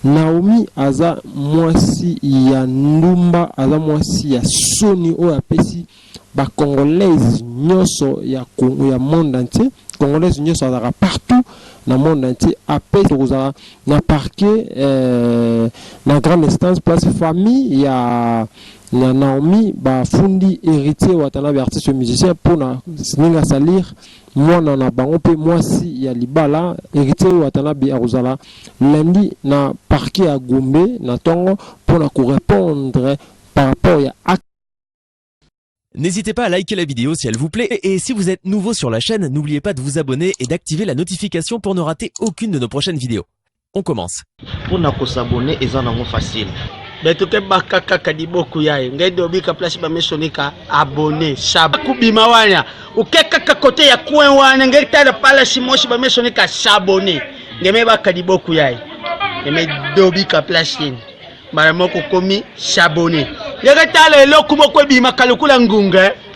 Naomi aza mwasi ya ndumba aza mwasi ya soni oyo apesi ba congolaise nyoso ya Congo ya monde entier congolaise nyoso azaka partout na monde entier apesi tokozala na parquet eh, na grande instance place famille ya ya Naomi bafundi héritier watanabe artiste musicien pona ndenge asalir muana na bango mpe muasi ya libala Heritier Watanabe akozala lundi na parquet ya Gombe na tongo mpo na ko repondre par rapport ya acte N'hésitez pas à liker la vidéo si elle vous plaît et si vous êtes nouveau sur la chaîne, n'oubliez pas de vous abonner et d'activer la notification pour ne rater aucune de nos prochaines vidéos. On commence. Pour na ko s'abonner eza nango facile. Beto ke baka kaka liboku yaye ngai dobika place ba mesonika abonner sab kubima wana uke kaka kote ya coin wana ngai tala pala simoshi ba mesonika s'abonner ngai me baka liboku yaye ngai dobika place yeni mbala moko komi s'abonner ngai tala eloko moko ebimaka lokola ngunga eh.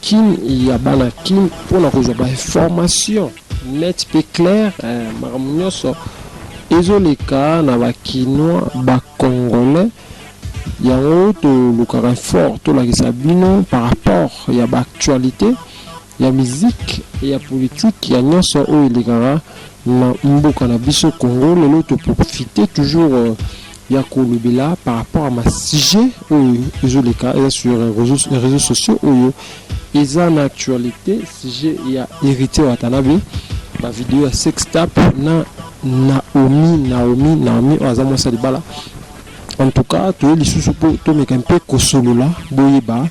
Kin ya bana kin mpo na kozwa ba information net pe claire eh, makambo nionso ezo leka na ba kinois ba congolais yango tolukaka fort tolakisa bino par rapport ya ba actualite ya musique ya politique ya nionso oyo elekaka na mboka na biso congo lelo to profite toujours ya kolobela par rapport à ma sujet oyo ezoleka eza sur réseaux sociaux oyo eza na actualité sujet ya héritier watanabe ba video ya sextap na naomi naomi naomi oyo aza mwasi ya libala en tout cas toye lisusu mpo tomeka mpe kosolola boyeba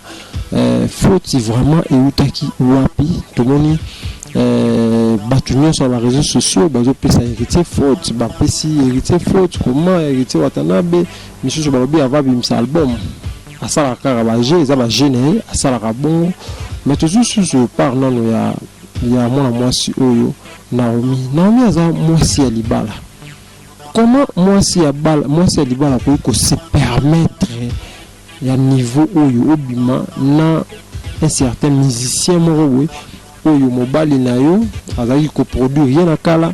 Euh, faute vraiment eutaki wapi tomoni euh, bato nyonso ya bareseau sociaux bazopesa héritier faute bapesi héritier faute comment héritier watanabe misusu balobi ava bimisa album asalaka kaka baje eza baje na ye asalaka bongo mais tozwi susu part nano ya, ya mwana mwasi oyo naomi naomi aza mwasi ya libala Comment mwasi ya bala mwasi ya libala akoki ko se permettre ya niveau oyo obima na un certain musicien moko boye oyo mobali na yo azalaki ko produire ye na kala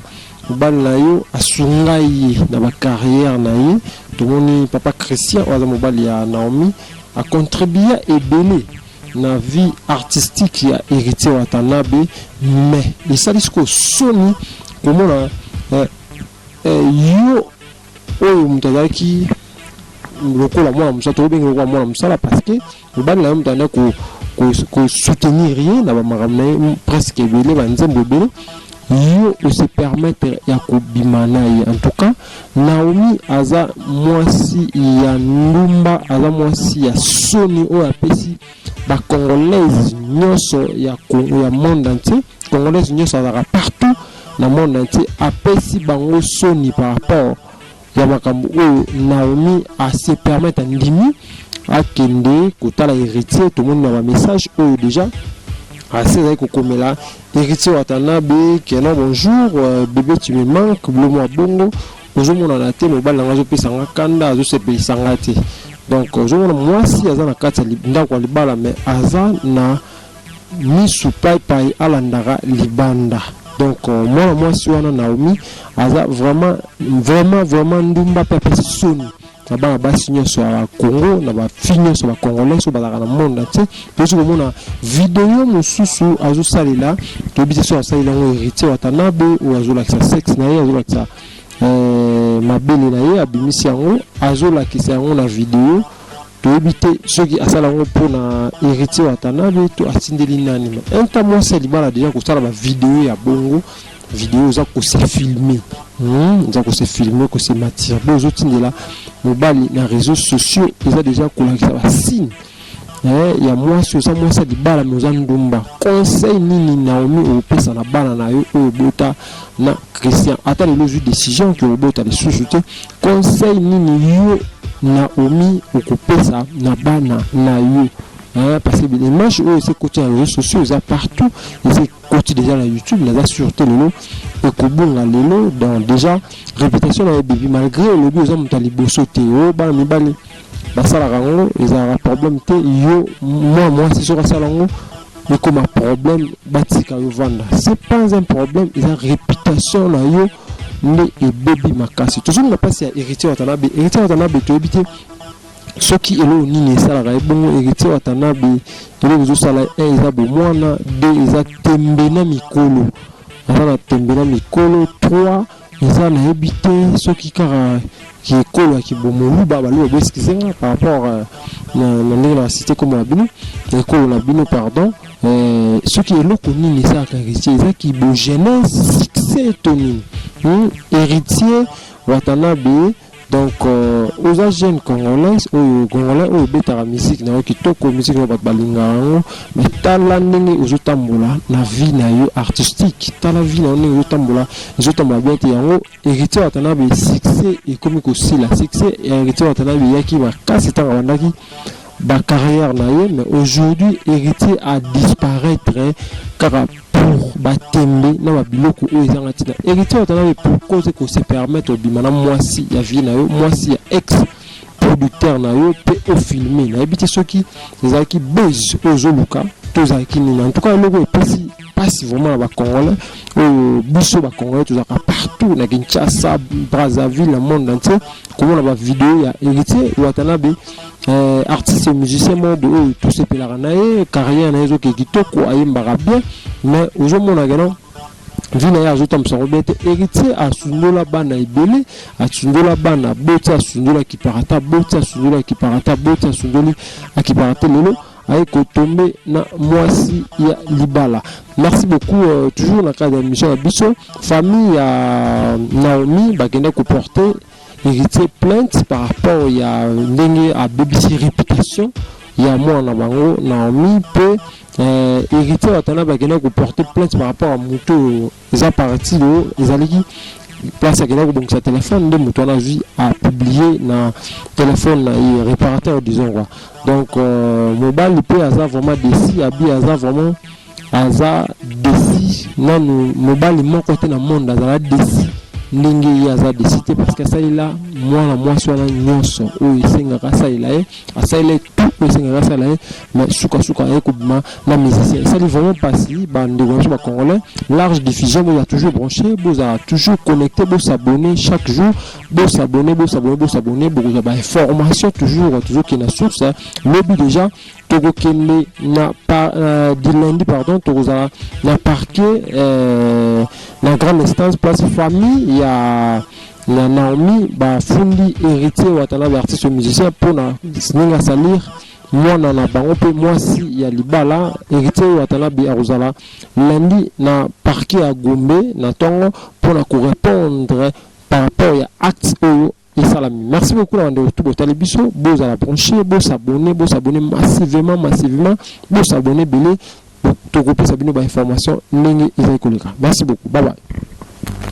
mobali na yo asunga ye na ba carrière na ye tomoni papa Christian oyo aza mobali ya Naomi a contribua ebele na vie artistique ya Heritier Watanabe mais esali sikoyo soni komona eh, Eh yo oyo moto azalaki lokola mwana mosala tokobenge lokola mwana mosala parce que mobali na yo moto anda kosoutenir ye na bamakambo na ye presque ebele banzembo ebele yo ose permettre ya kobima na ye en tout cas naomi aza mwasi ya ndumba aza mwasi ya soni oyo apesi ba congolaise nyoso ya Congo ya monde entier congolaise nyoso azalaka partout na monde entier apesi bango soni par rapport ya makambo oyo Naomi a se permettre andimi akende kotala héritier tomoni na ba message oyo déjà asi azali kokomela héritier watanabe keno bonjour euh, bebe tu me manque blomo ya bongo ozomonana te mobali na ngai azopesa nga kanda azosepelisa nga te donc ozomona mwasi aza na kati ya ndako ya libala me aza na misu paipai alandaka libanda donc euh, mwana mwasi wana naomi aza vraiment vraiment vraiment ndumba mpe apesi soni na bana basi nyonso ya bakongo na bafi nyonso bakongolais oyo bazalaka na monde entier toyesi komona video mosusu azosalela toyebi te soki asalela yango héritier watanabe oyo azolakisa sexe na ye azolakisa eh, mabele na ye abimisi yango azolakisa yango na video toyebi te soki asala yango mpo na héritier watanabe to atindeli nani ma inta mwasi ya libala deja kosala bavideo ya bongo video oza kose filme hmm, oza kose filme kose matirbe ozotindela mobali na réseau sociaux eza deja kolakisa basigne eh, ya mwasi oza mwasi ya libala me oza ndumba conseil nini naomi okopesa na bana na yo oyo obota na christian ata lelo ozwi décision ke obota lisusu te conseil nini yo naomi okopesa na bana na yo eh, parce que image oyo ese koti ya réseau sociaux eza partout ese koti deja na youtube naza sur te lelo ekobunga lelo donc deja réputation na ye ebebi malgré olobi oza moto ya liboso te o bana mibale basalaka yango ezalaka problème te yo mwa mwasi soki asala yango ekoma problème batika yo vanda c'est pas un problème eza réputation na yo nde ebebi makasi tozongi na mpasi ya héritier watanabe héritier watanabe toyebi te soki eloko nini esalaka ye bongo héritier watanabe eloko ezosala un eh, eza bomwana deux eza tembe na mikolo aza na tembe na mikolo trois eza nayebi te soki kaka kiekolo ya kibomoluba baloba boeskize nga par rapport euh, na ndenge na basite komona bino na ekolo na bino pardon euh, soki eloko nini esalaka héritier eza kibogenese succès to nini hmm? héritier watanabe Donc euh, oza jeune congolaise oyo congolais oyo obetaka musique na yo kitoko musique na bato balingaka yango mais tala ndenge ozotambola na vie na yo artistique tala vie na yo ndenge ozotambola ezotambola bien te yango héritier watanabe succès ekomi kosila succès ya héritier watanabe eyaki makasi ntango abandaki ba carrière na ye mais aujourd'hui heritier a disparaitre kaka pour ba tembe na ba biloko oyo ezanga tina heritier watanabe pourquoi ozo ko se permettre obima na mwasi ya vieux na yo mwasi ya ex producteur na yo pe o filme nayebi te soki ezalaki buzz oyo ozo luka to ezalaki nini en tout cas eloko epesi pasi vraiment na ba congolais oyo biso ba congolais tozalaka partout na Kinshasa Brazzaville na monde entier komona ba video ya heritier watanabe Eh, artiste et musicien mode oyo oh, tosepelaka na ye carrière na ye ezoke kitoko ayembaka bien mais ozomonaka non vie na ye azotambusa yango bien te héritier asundola bana ebele asundola bana aboti asundola akipaka ata aboti asundola akipaka ata aboti asundoli akipaka te lelo aye kotombe na mwasi ya libala merci beaucoup euh, toujours na cadre ya mission ya biso famille ya naomi bakenda koporte Heritier plainte par rapport ya ndenge abebisi reputation ya mwana bango Naomi mpe eh, Heritier Watanabe akenda ko porter plainte par rapport à moto oyo eza parti oyo ezalaki place akenda kobongisa telefone nde moto wana azwi apublie na telefone na ye reparateur disons quoi donc euh, mobali mpe aza vraiment desi abi aza vraiment Aza desi nanu mobali moko te na monde azala desi ndenge ye aza desi te parce que asalela mwana mwasi wana nyonso oyo esengaka asalela ye asalela ye tout oyo esengaka asalela ye mais sukasuka aye kobima na musicien esali vraiment mpasi bandeko na biso bacongolais large diffusion boza toujours branché bozala toujours connecté bosabonne chaque jour bosabonne bosabonne bosabonne bokozwa bainformation toujours tozokende na source lobi déjà tokokende na par, euh, du lundi pardon tokozala na parquet euh, na grande instance place famille ya ya Naomi bafundi héritier Watanabe artiste musicien mpo na ndenge asalir mwana na bango mpe mwasi ya libala héritier Watanabe akozala lundi na parquet ya Gombe na ntongo mpo na korepondre par rapport ya acte oyo esalami merci beaucoup na bandeko tout botali biso bozala branche bosabone bosabone massivement massivement bosabone ebele tokopesa bino bainformation ndenge ezali koleka merci beaucoup babai